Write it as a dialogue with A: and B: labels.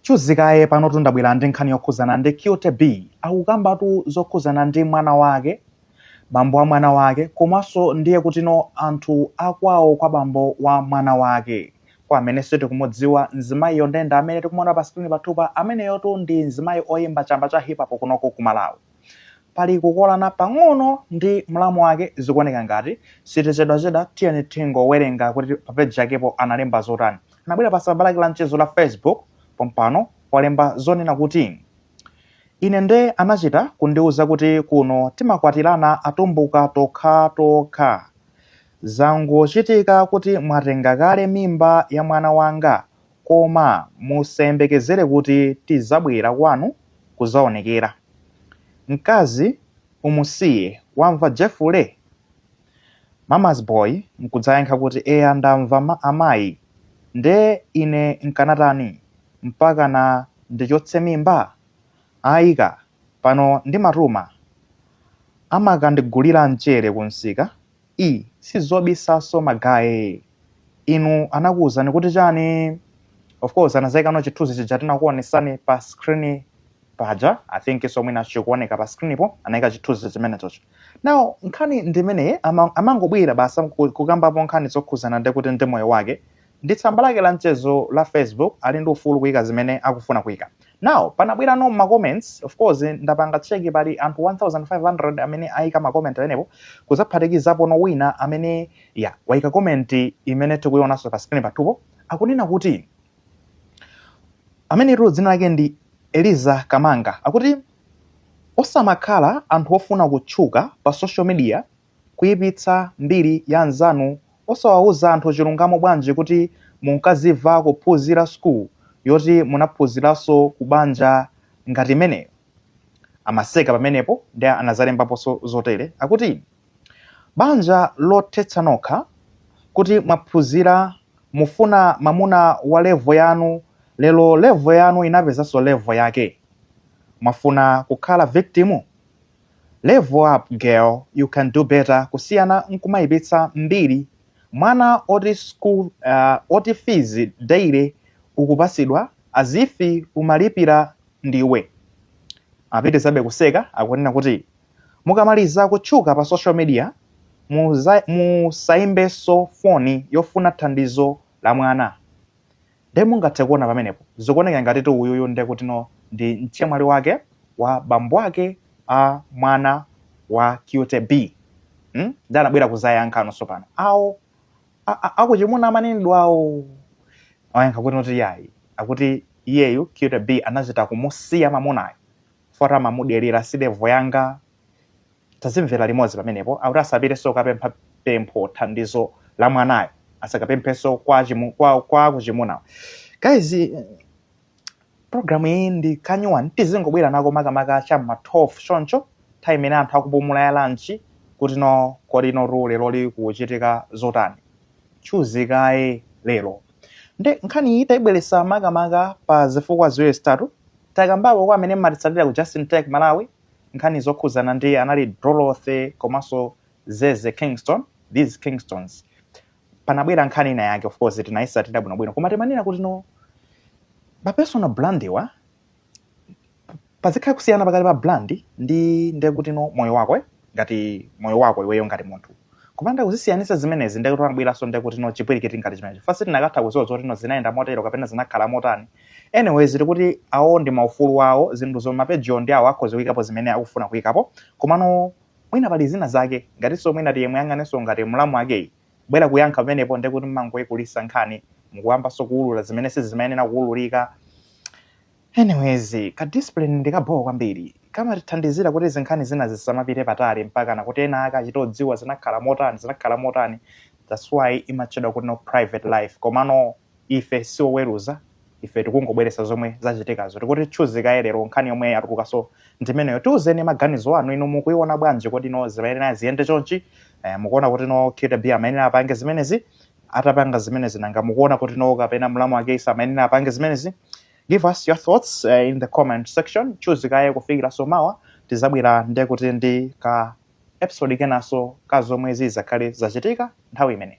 A: Choncho kaye panotu ndabwera ndi nkhani yokhuzana ndi QTB akukambatu zokhuzana ndi mwana wake, bambo wa mwana wake komaso ndiye kuti no anthu akwawo kwa bambo wa mwana wake. Kwa amene sitikumudziwa mzimayiyu nde ndi amene tikumuona pa screen pathupa, ameneyutu ndi mzimayi oyimba chamba cha Hip Hop kunoku ku Malawi. pali kukolana pang'ono ndi mlamu wake zikuoneka ngati sitichedwachedwa tiyeni tingowerenga kuti pa peji yakepo analemba zotani anabwera pa tsamba lake la mchezo la facebook pompano nkulemba zonena kuti ine nde anachita kundiuza kuti kuno timakwatirana atumbuka tokha tokha zangochitika kuti mwatenga kale mimba ya mwana wanga Koma musayembekezere kuti tidzabwera kwanu kudzaonekera. Mkazi umusiye, wamva Jefule? Mama's boy nkudzayankha kuti, Eya ndamva amayi. Nde ine nkanatani? Mpakana ndichotse mimba? Ayi ka! Pano ndimatuma. Amakandigulira mchere kumsika i sizobisaso magaye inu anakuuzani kuti chani of course anazaikanso chithunzi chija tinakuonesani pa screen paja i think so mwina chikuoneka pa screen po anaika chithunzi chimenechocho now nkhani ndimeneyi ama- amangobwera basi ku- kukambapo nkhani zokhuzana ndi kuti ndi moyo wake ndi tsamba lake la mchezo la facebook ali ndi ufulu kuika zimene akufuna kuika now panabwerano ma comments of course ndapanga check pali anthu 1500 amene aika ma comment amenepo kuzaphatikizapono wina amene ya waika comment imene tikuionanso pa screen pathupo akunena kuti amene ilo dzina lake ndi eliza kamanga akuti osamakhala anthu ofuna kutchuka pa social media kuipitsa mbiri ya anzanu osawauza anthu chilungamo bwanji kuti munkafuna kuphuzira school yoti munaphuziraso ku banja ngati imeneyo amaseka pamenepo nde anazalembaposo zotere akuti banja lothetsa nokha kuti mwaphuzira mufuna mamuna wa level yanu lero level yanu inapezaso level yake mwafuna kukhala victim? Level up girl you can do better kusiyana nkumayipitsa mbiri mwana oti fees daily ukupasidwa as if umalipira ndiwe. Apitizabe kuseka akunena kuti mukamaliza kutchuka pa social media musaimbenso foni yofuna thandizo la mwana. nde mungathe kuona pamenepo zikuoneka ngati kuti uyuyu nde kutino ndi mchemwali wake wa bambo ake a mwana wa cute b hmm? nde anabwera kuzayankha ena nso pano awo akuchimuna amanenedwawo ayankha kuti noti yayi akuti iyeyu cute b anachita kumusiya mamunayo poti amamudelera sidevo yanga tazimvera limodzi pamenepo akuti asapitenso kukapempha pempho thandizo la mwanayo asakapemphenso kwa, chimu, kwa, kwa kuchimunawo guys programu iyi ndi kanyuwani tizingobwera nako makamaka cha ma 12 choncho nthawi imene anthu akupumula ya lanchi kuti no kodi no tsiku lonseli kukuchitika zotani tchuzi kaye lero nde nkhani iyi tayibweresa makamaka pa zifukwa ziwiri zitatu takambapo kwa amene mmatitsatira ku justin tech malawi nkhani zokhudzana ndi a nani Dorothy komanso Zeze Kingston these Kingstons panabwera nkhani ina yake of course tinayisatira bwinobwino koma timanena kuti no ma personal brand wa pazikhala kusiyana pakati pa brand ndi ndiye kuti no moyo wako eh? ngati moyo wako iweyo ngati munthu kupanda kuzisiyanisa zimenezi ndiye kuti panabweranso ndiye kuti no chipwirikiti ngati chimenecho mwina sitinakatha kuziwa zoti no zinayenda motero kapena zinakhala motani Anyway, tikuti awo ndi maufulu awo zinthu zomwe mapejiwo ndi awo akhoza kuyikapo zimene akufuna kuyikapo komano mwina pali zina zake ngatinso mwina tiye muyang'anenso ngati mlamu wakeyu kubwera kuyankha pamenepo ndiye kuti mmangoyikulisa nkhani mukuyambanso kuwulula zimene sizimayenera kuwululika anyways ka discipline ndi kabho kwambiri kamatithandizira kuti zinkhani zina zisamapite patali mpakana kuti ena ake achite kudziwa zinakhala motani zinakhala motani that's why imatchedwa kuti no private life komano Ife si oweruza, ife tikungobweretsa zomwe zachitikazo. Tikuti tchuzi kaye lero nkhani yomwe yatulukanso ndi imeneyo. Tiuzeni maganizo anu, inu mukuiona bwanji? Kodi no zimayenera ziyende chonchi? Eh, mukuona kuti no Cute B amayenera apange zimenezi? Atapanga zimenezi nanga mukuona kuti no kapena mlamu wakeyu amayenera apange zimenezi? Give us your thoughts eh, in the comment section. Tchuzi kaye kufikiranso mawa tizabwera nde kuti ndi ka episode kenanso ka zomwe zizakhale zachitika nthawi imeneyi.